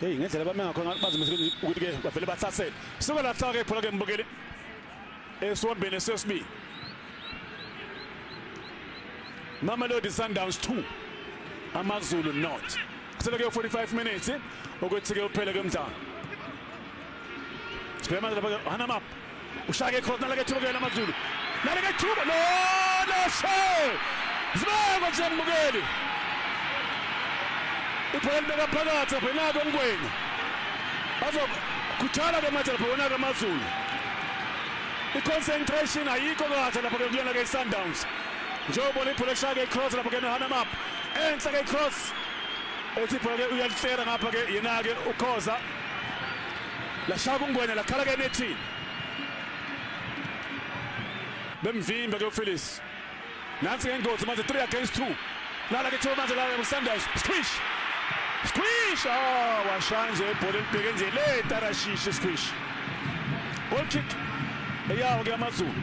Hey ngendlela bame ngakho ngathi bazimise ukuthi ke bavele bathasele. Suka la hlaka iphola ke mbukeli. Esiwombeni sesibili. Mamelodi Sundowns 2 AmaZulu not. Kusele ke 45 minutes ukuthi ke uphele ke umdlalo. Sibhema lapha Hanamap ushake cross naleke thuba kuyena amazulu naleke thuba no no she zibekwa nje mbukeli ibhola libeka phakathi lapho nako ngwenya bazokhuthala ke manje lapho wona ke amazulu i-concentration ayikho kahle lapho ke kuyona ke i-sundowns njengoba libhola eshaya ke i-cross lapho ke nohana map enhla ke i-cross ethi ibhola ke uyalihlela ngapha ke yena-ke ukhoza lashaya kungwenya lakhala ke nethini bemvimbe ke uPhyllis nansi ngengozi manje 3 against 2 nala ke thola manje la uSanders squish squish ah washaya nje ibhola elibheke nje le tarashishi squish goal kick eyawo ke amazulu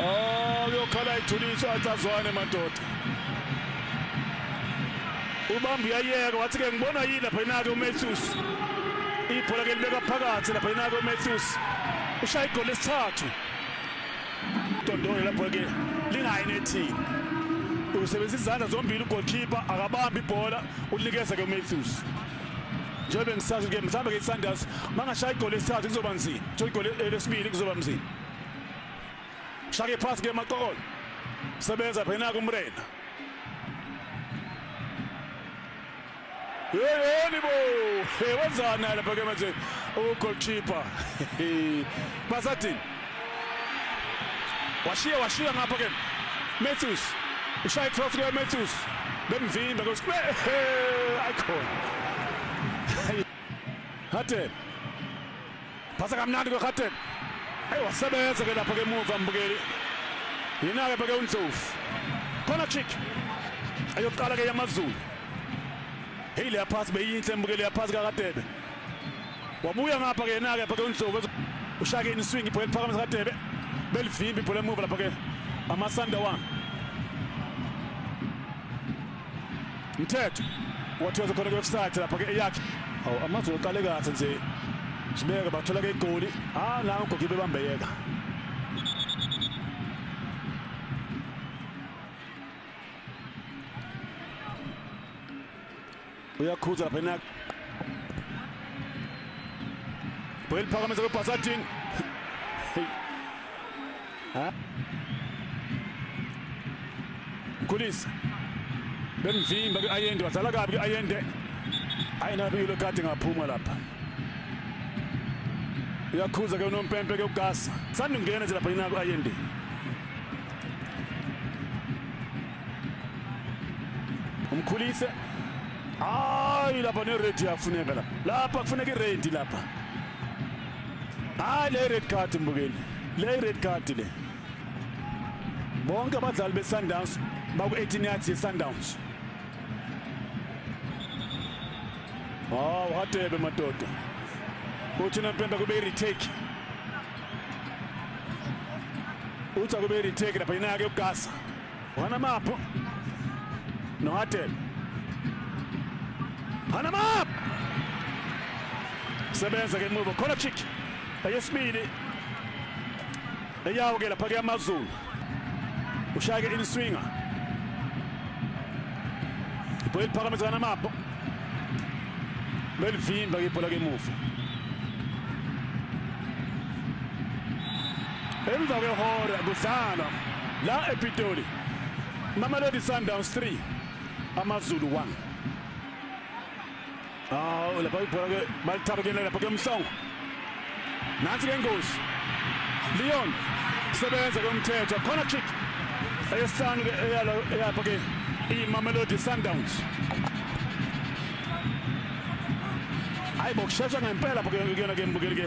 Oh uyokhala ithulisa wathi azwane madoda. Ubamba uyayeka wathi ke ngibona yini lapha inake uMatthews. Ibhola ke libeka phakathi lapha inake uMatthews. Ushaya igoli lesithathu. Dondolo lapha ke lingayi nethini. Usebenzisa izandla zombili ugoalkeeper akabambi ibhola ulikeza ke uMatthews. njengoba ngisazi ke mhlawumbe ke iSunders mangashaya igoli lesithathu kuzoba nzima igoli lesibili kuzoba nzima shake phansi ke maqokolo sebenza phena kumrena yeyeni bo wenzani lapha ke manje ugoalkeeper basathini washiya washiya ngapha ke Matthews ushaya cross ke Matthews bemvimba kosi ayikhona Hatem Phasa kamnandi kweGarden. Hey wasebenza ke lapha ke muva mbukeli. Yena ke bheke uNdlovu. Khona kick. Ayoqala ke yamaZulu. Hey leya pass beyinhle mbukeli ya pass kaKadebe. Wabuya ngapha ke yena ke bheke uNdlovu. Ushake in swing ibhola liphakama kaKadebe. Belivimbi ibhola emuva lapha ke. Amasanda wami. Mthetho wathiwa khona kwe-offside lapha ke eyakhe. Awu amazulu qale kahle nje. Sibeke bathola ke igoli. Ah la ugogibe bambeyeka. Uyakhuza lapha enak. Bhel phakamisa kweBhasadini. ha Mkhulisa bemvimba kwi-ayende wadlala kabi kwi-ayende hayi nabilo kade ngaphuma lapha uyakhuza ke unompempe ke ugasa sanda ungena nje lapha yina ku-ayende umkhulise hayi lapha neredi yafuneka lapha lapha kufuneka iredi lapha hayi le red card mbukeli le red card le bonke abadlali beSundowns baku-18 yards yeSundowns hawu hadebe madoda uthi nempempe kube i-retake uthi akube i-retake lapha yena-ke ugasa Hana Mapo. Nohatel. Hana Map. Sebenza ke muva. Khona chick. Eyesibili. Eyawo ke lapha ke amazulu. Ushaya ke in swinger. Ibhola iphakamisa Hana Mapo. Belvimba ke ibhola ke muva. Emva kwehora kudlalwa la ePitoli. Mamelodi Sundowns 3 AmaZulu 1. Ah, lapha ibhola ke balithaba kuyena lapha ke Mhlongo. Nansi ke ngozi. Leon sebenza komthetho khona kick eyesihlanu ke eyalo eyapha ke iMamelodi Sundowns. Hayibo kushesha ngempela phela kuyona ke mbukeli ke.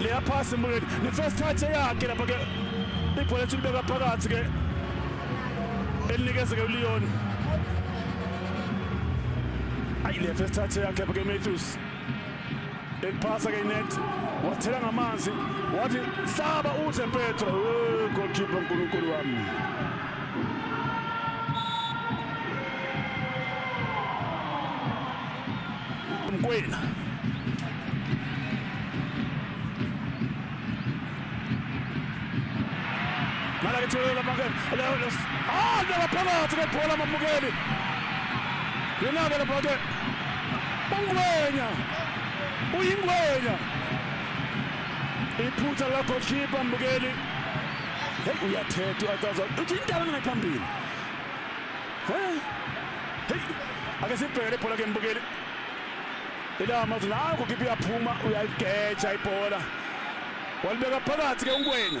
leya phasi mbukeni ne-first touch eyakhe lapha ke ibhola ethi libeka phakathi ke elinikeze ke uleon ayi le first touch yakhe lapha ke matthews eliphasa ke inet wathela ngamanzi wathi hlaba uze petro goalkeeper nkulunkulu wami mkwena Mala ngithulele lamangeni. Ah, ndaba phakathi kwebhola amamukeli. Yena-ke lapha-ke ungwenya uyingwenya iphutha lakho khipha mbukeli heyi uyathetha uyacaza uthi indaba mina phambili heyi ake sibhekele ibhola ke mbukeli Ila amazi nangu kipi yaphuma uyaligeja ibhola. Walibeka phakathi ke uNkwena.